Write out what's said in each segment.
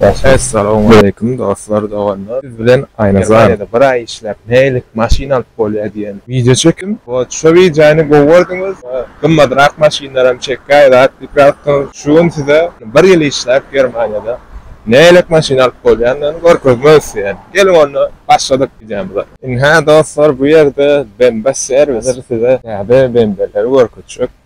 Essalowmaleýkim dostlar doganlar siz bilen aýnazan bir aý işläp nähililik maşyn alyp bolýa diýen wideo çekim wot şo wideony gowy gördüňiz we gymmadrak maşynlaram çekýäýiz at diýipýatdyňyz şu gün size bir ýyl işläp germaniýada nähililik maşyn alyp bolýanyny görkezmek isleýän geliň onda başladyk wideomyza. Ynha dostlar bu ýerde bemba serwis size täze bembeleri görkezjek.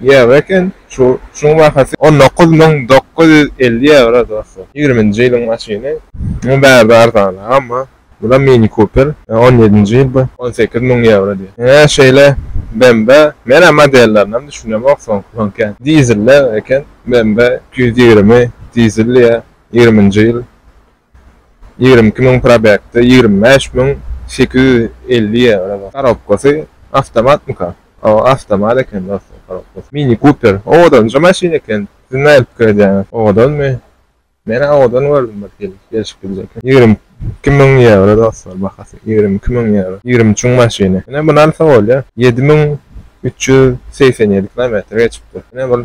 Ýewro eken, şu şuň bahasy on dokuz müň dokuz ýüz elli ýewro dostlar, ýigriminji ýylyň maşyny. Muňa bärde arzan amma bula mini kuper on ýedinji ýyl bu on sekiz müň ýewro diýýär. Hä şeýle BMW menä modellerinem düşünemok soňky soňky dizelle eken BMW iki ýüz ýigrimi dizel diýýär ýigriminji ýyl Ýigrimi iki müň probegtde ýigrimi bäş müň sekiz ýüz elli ýewro bar. Korobkasy awtomatmyka? Hawa awtomat eken dostlar korobkasy. Mini kuper owadanja maşyn eken. Siz nähili pikir edýäňiz? Owadanmy? Menä owadan gördüm bir hili gelşip gidejek. Ýigrimi iki müň ýewro dostlar bahasy ýigrimi iki müň ýewro. Ýigrimi üçüň maşyny. Ine muny alsa bolýar. Ýedi müň üç ýüz segsen ýedi kilometr geçipdir. Ine bir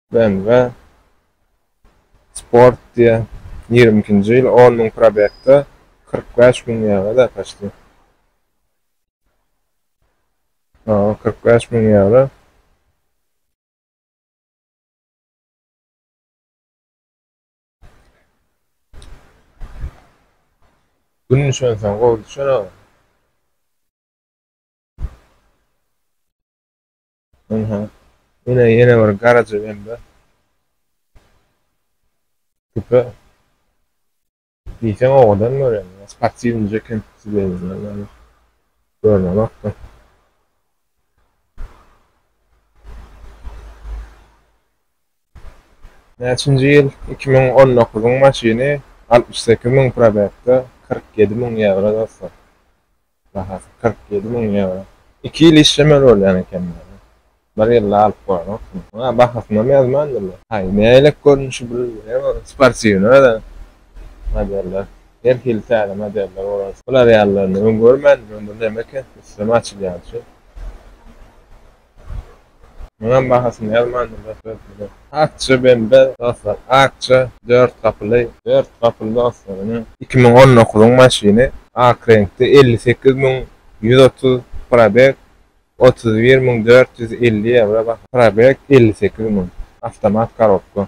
BMW Sport diýen ýigrimi ikinji ýyl on müň probegde kyrk bäş müň ýewro däkaçdy. Hawa, kyrk bäş müň ýewro. Gün düşensoň gowy düşer aga. Ynha, ine ýene bir garaja bende. Küpe diýseň owadan görýän, sportiwnyja eken sizeýmeli ýaly görnenok-da. Näçinji ýyl? Iki müň on dokuzyň maşyny, altmyş sekiz müň probegde, kyrk ýedi müň ýewro dostlar. Bahasy kyrk ýedi müň ýewro. Iki ýyl işlemeli bolýan eken muny. Bir ýylda alyp bolanokmy? Muňa bahasynam ýazmandylar. Haý, nähilek görnüşi bu hem sportiwnyý özem modeller. Her hili täze modeller bolan. Bular ýalylaryny öň görmändim men bu näme eken üstüne mi açylýan şu. Muňam bahasyny ýazmandyr dostlar size. Akja bende dostlar akja dört gapyly dört gapyly dostlar ine iki müň on dokuzyň maşyny ak reňkde elli sekiz müň ýüz otuz probeg otuz bir müň dört ýüz elli ewro baha probeg elli sekiz müň awtomat korobka.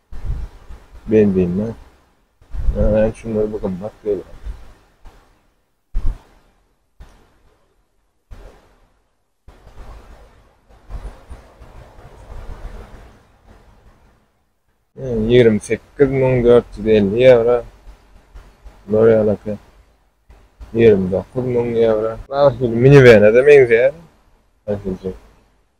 Benzine nämäni şunday bir gymmat gelýär. Ýigrimi sekiz müň dört ýüz elli ýewro. Bular ýalaka. Ýigrimi dokuz müň ýewro. Mini-wene-de meňzeýär.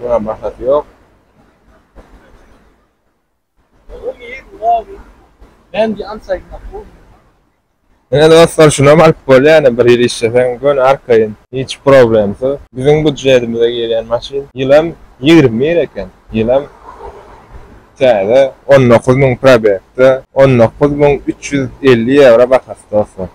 Buna maksat yok. Ben bir ansaygın bu. Ene dostlar şuna baryp bol yani bir ýyl işlesen gön arkaýyn. Hiç problemsiz. Biziň budjetimize girýän maşyn ýylam 20 mir eken. Ýylam täze 19 müň probekde 19 müň 350 ýewro bahasy dostlar.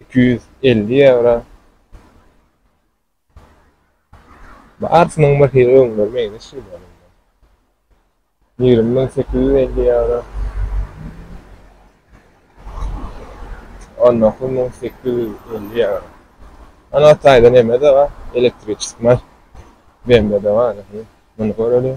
iki ýüz elli ýewro. Barsynyň bir hili öňler meňzeş gelýär. Ýigrimi müň sekiz ýüz elli ýewro. On dokuz müň sekiz ýüz elli ýewro. Ana taýda neme-de bar, elektriçeski BMW-de bar. Muny göreliň.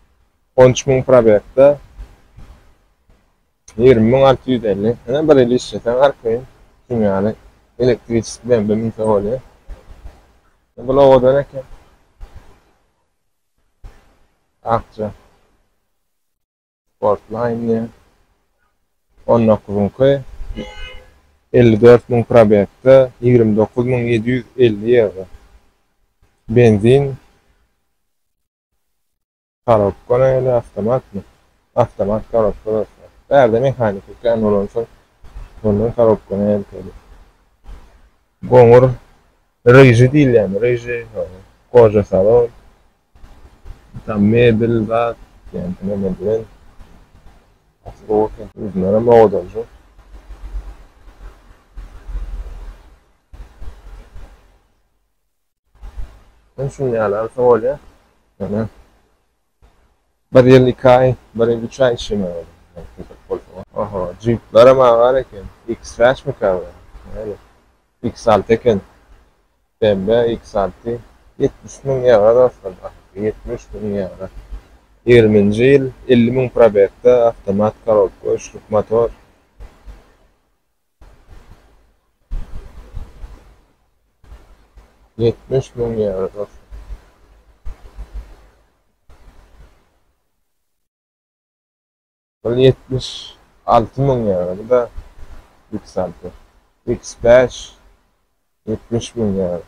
On üç müň probegde ýigrimi müň alty ýüz elli. Ine bir ýyl işleseň her kyn kim ýaly elektriçeski BMW münse bolýar. Bu owadan eken. Akja. Sportline diýen. On dokuzyňky elli dört müň probegde ýigrimi dokuz müň ýedi ýüz elli ýewro. Benzin Korobka näle awtomatmy? Awtomat korobka dostlar. Bärde mehaniki kän bolansoň ondan korobka näle kel. Goňur ryžy diýilýämi ryžy ýogy goja salon. Tam mebel zat ýaňky näme bilen. Uzunaram owadanjy. Men şun ýaly alsa bolýar. Ýöne bir ýyl iki aý, bir ýyl üç aý işlemek gerek. Oho, jyplarem agar eken. X-Trackmikä bu? Näme? X alty eken. BMW X alty. Ýetmiş müň ýewro dostlar, bahasyz. Ýetmiş müň ýewro. Ýigriminji ýyl, elli müň probegde, awtomat korobka, üçlük motor. Ýetmiş müň ýewro dostum. Ol ýetmiş alty müň ýewro, bu-da X alty. X bäş ýetmiş müň ýewro.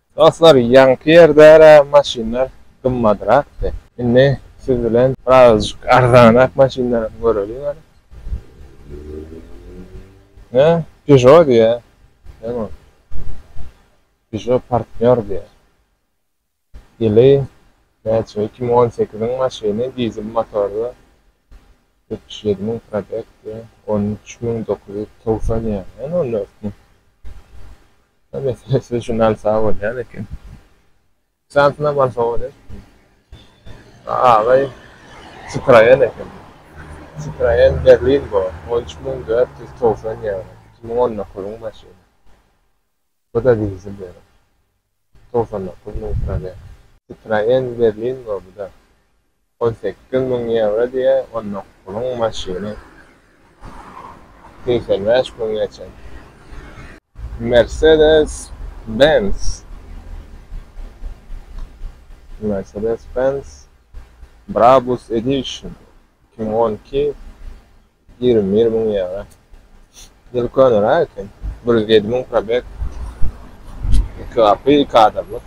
Dostlar ýaňky ýerdära maşynlar gymmadrakdy. Indi siz bilen birazajyk arzanrak maşynlar hem göreliň hany. Hä Peugeot diýä. Näme ol? Peugeot partnýor diýä. Ýyly näçe iki müň on sekiziň maşyny dizel motorly Ýetmiş ýedi müň probeg we on üç müň dokuz ýüz togsan ýaňaýan ol örtme. Ýa meselem siz şuny alsaňyz bolýan eken. Şansynam alsa bolýar. A agaý Citroen eken. Citroen Berlingo on üç müň dört ýüz togsan ýaňaýan. Iki müň on dokuzyň maşyny. Bu-da dizel ýörä. Togsan dokuz müň probeg. Citroen Berlingo bu-da. On sekiz müň ýewro diýýä, on dokuz puluň maşyny. Segsen bäş müň geçen. Mersedes Benz. Mersedes Benz Brabus Edition iki müň on iki. Ýigrimi bir müň ýewro. Diýeli köneräk eken. Bir ýüz ýedi müň probeg. Iki gapy, iki adamlyk.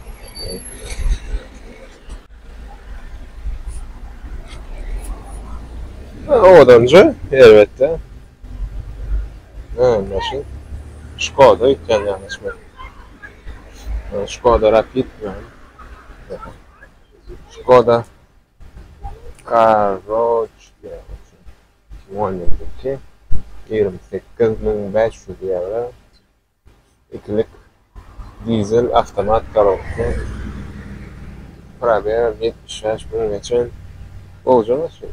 Owadanjy, erbetde. Öň maşyn. Şkoda ýitýän ýanaşma. Şkoda Rapid. Şkoda. Karoçke, tuwanyňky ýigrimi sekiz müň bäş ýüz ýewro ikilik dizel awtomat korobka, probeg ýetmiş bäş müňe çen, gowyja maşyn.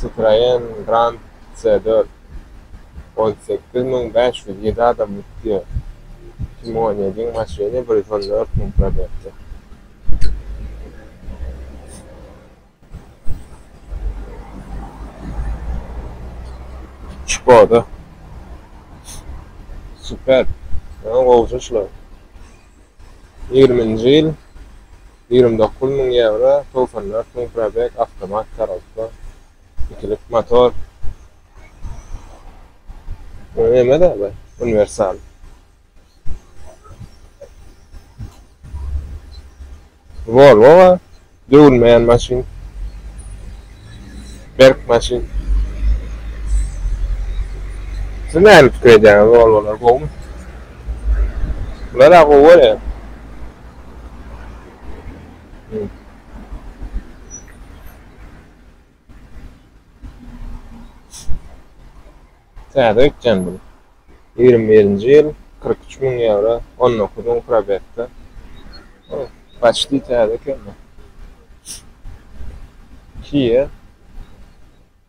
Citroen Grand C4 on sekiz müň bäş ýüz ýedi adam gitdi. Iki müň on ýedi maşyny bir ýüz on dört müň probegde. Şkoda Superb. Ýa gowja şular. Ýigriminji ýyl Ýigrimi dokuz müň ýewro, togsan dört müň probeg, awtomat korobka, ikilik motor. Bu neme-de bu? Uniwersal. Volvo bar. Döwülmeýän maşyn. Berk maşyn. Siz näme pikir edýäňiz, Volvolar gowumy? Bular-a gowy görýän. Täze ötýän bu. Ýigrimi birinji ýyl, kyrk üç müň ýewro, on dokuz müň probegda. O, paçti täze eken bu. Kia.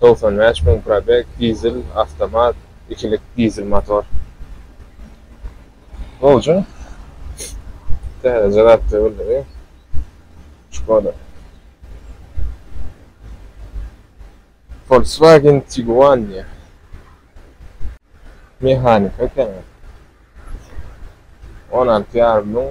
Togsan bäş müň probeg, dizel, awtomat, ikilik dizel motor. Bolcun. Täzeje zat döwüldi. Şkoda. Volkswagen Tiguan diýýä. Mehanika ekeni. On alty ýarym müň.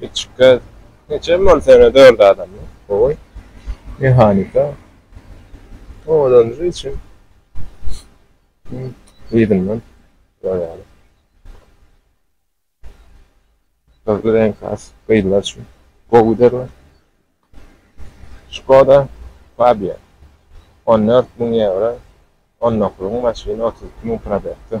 Kiçik gäz. Neçem bol sene dört adam. Gowy. Mehanika. Owadanjy üçin. Yzyndan. Goýaly. Gyzly renk has. Gyzlar üçin. Gowy derler. Skoda Fabia. 14 müň ýewro. 19 maşyn 32 müň probekti.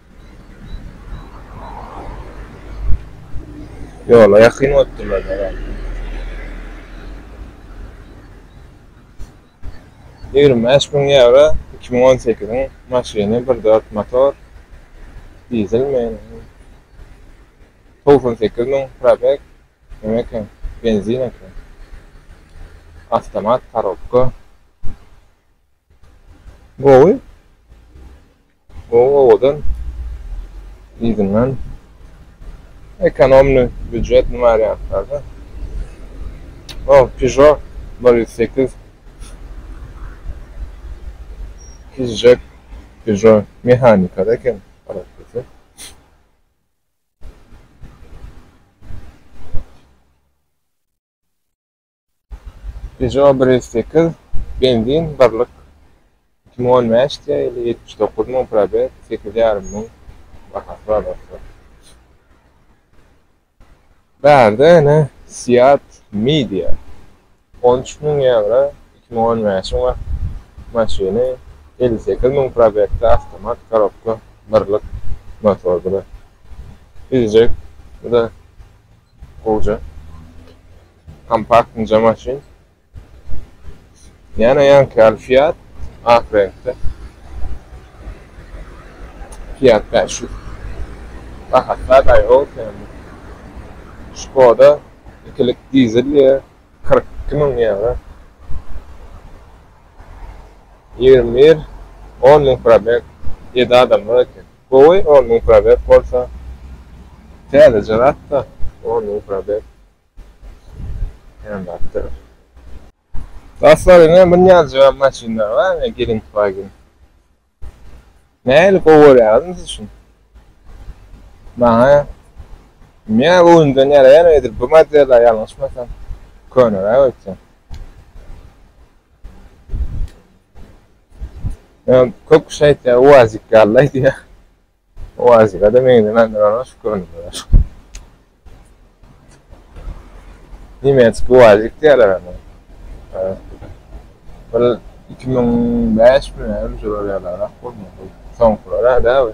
Ýola ýakyn otdurlar herälde. Ýigrimi bäş müň ýewro iki müň on sekiziň maşyny bir dört motor dizelmi togsan sekiz müň probeg näme eken benzin eken awtomat korobka gowy. Gowy owadan yzyndan ekonomny býujet nime aýarýaňyzlarda. O pižo bir ýüz sekiz kiçijek pižo mehanikada eken garaz dese. Peugeot bir ýüz sekiz, benzin, birlik, iki müň on bäş diýýär, ýyly ýetmiş dokuz müň, probeg, sekiz ýarym müň bahasy bar dostlar. Bärde ene Seat Mii diýýär. On üç müň ýewro, iki müň on bäşiň we maşyny elli sekiz müň probegde, awtomat, korobka, birlik, motordyr. Bizjek, bu-da Gowja. Kompakt inje maşyn. Ýene ýanki ýaly Fiat ak reňkde. Fiat 500. Rahat zat aýaga oturýandyr. Skoda ikilik dizel diýýä. 42 müň ýewro. 21 10 müň probeg. Ýedi adamlyk eken. Gowy on müň probeg bolsa. Täzeje zatda on müň probeg. Kän zatdyr. Dostlar ine bir nýazjygam maşynlar bar ine Gelentwagen. Nähili gowy görýäňiz mysl üçin. Maňa bilmeýän göwnümden ýaraýan edil bu model-a ýalňyşmasam. Köneräk öýtse. Kök kişi aýtýar, uwazik ýaly aýdýar. Uwazika-da meňzemän durana şu görnüşler. Nemetski uwazik diýýärler ony. Bir 2005 mi, öňki ýyllarda bolmaly. Soňkular-a däl.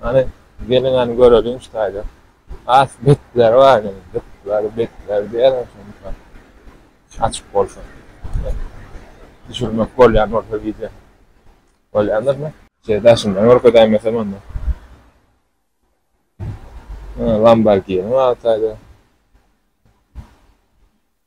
Hany geliň hany göreliň şu taýda. Has betler bar indi. Betler, betler diýerler şonda. Açyk bolsa. Düşürmek bolýan bolsa wideo. Bolýandyrmy? Şeýle daşyndan görkezäýin mesem onda. Lamborghini bar taýda.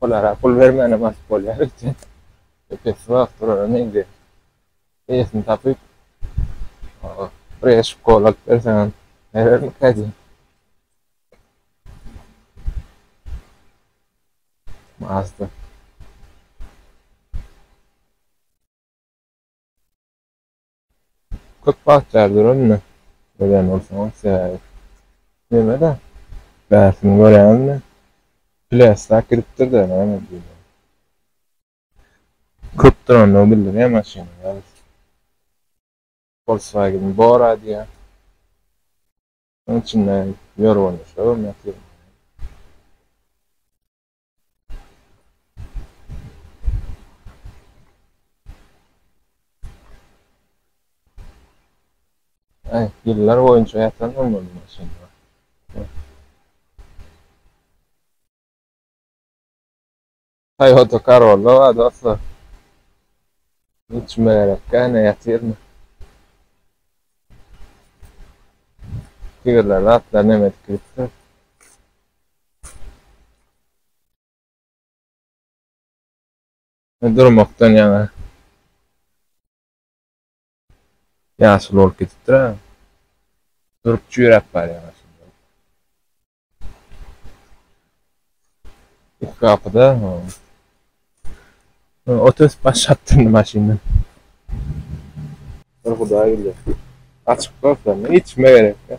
Olara pul bermänem alyp bolýar öýtýän. Epesli wagt duranam indi eýesini tapyp, birez şkola alyp berseňem berermikä diýýän. Mazda. Köp wagt bäri döränmi? Dörän bolsaňam sebäbi. Neme-dä? Bärsini görýäňizmi? Pläsläp gidipdir-dä, näme diýýä. Köp durandygy bildirýä maşynyň, ýaly. Volkswagen Bora diýýä. Onuň içinde ýörgünli şo görnýä. Ay, yıllar boyunca yatan mı bunun için? Toyota Corolla var dostlar. Hiç merak etme, yatır mı? Tigirler atlar ne medik gitsin. Durmakdan ýaňa ýaşuly bolup gidipdir-ä. Durup çüýräp barýar aslynda. Iki gapy-da. Ot ösüp başlapdyr indi maşyndan. Bir Hudaý bilýär. Açyk bolsa, içme gerek-dä.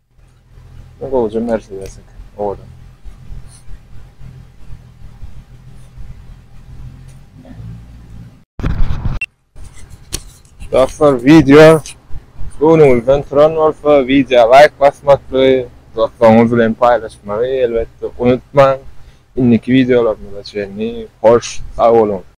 Bu gowja Mercedes eken, owadan. Dostlar, wideo göwnüňizden turan bolsa, wideo laýk basmakly, dostlaryňyz bilen paýlaşmagy elbetde unutmaň. Indiki wideolarymyza çenli hoş sag boluň.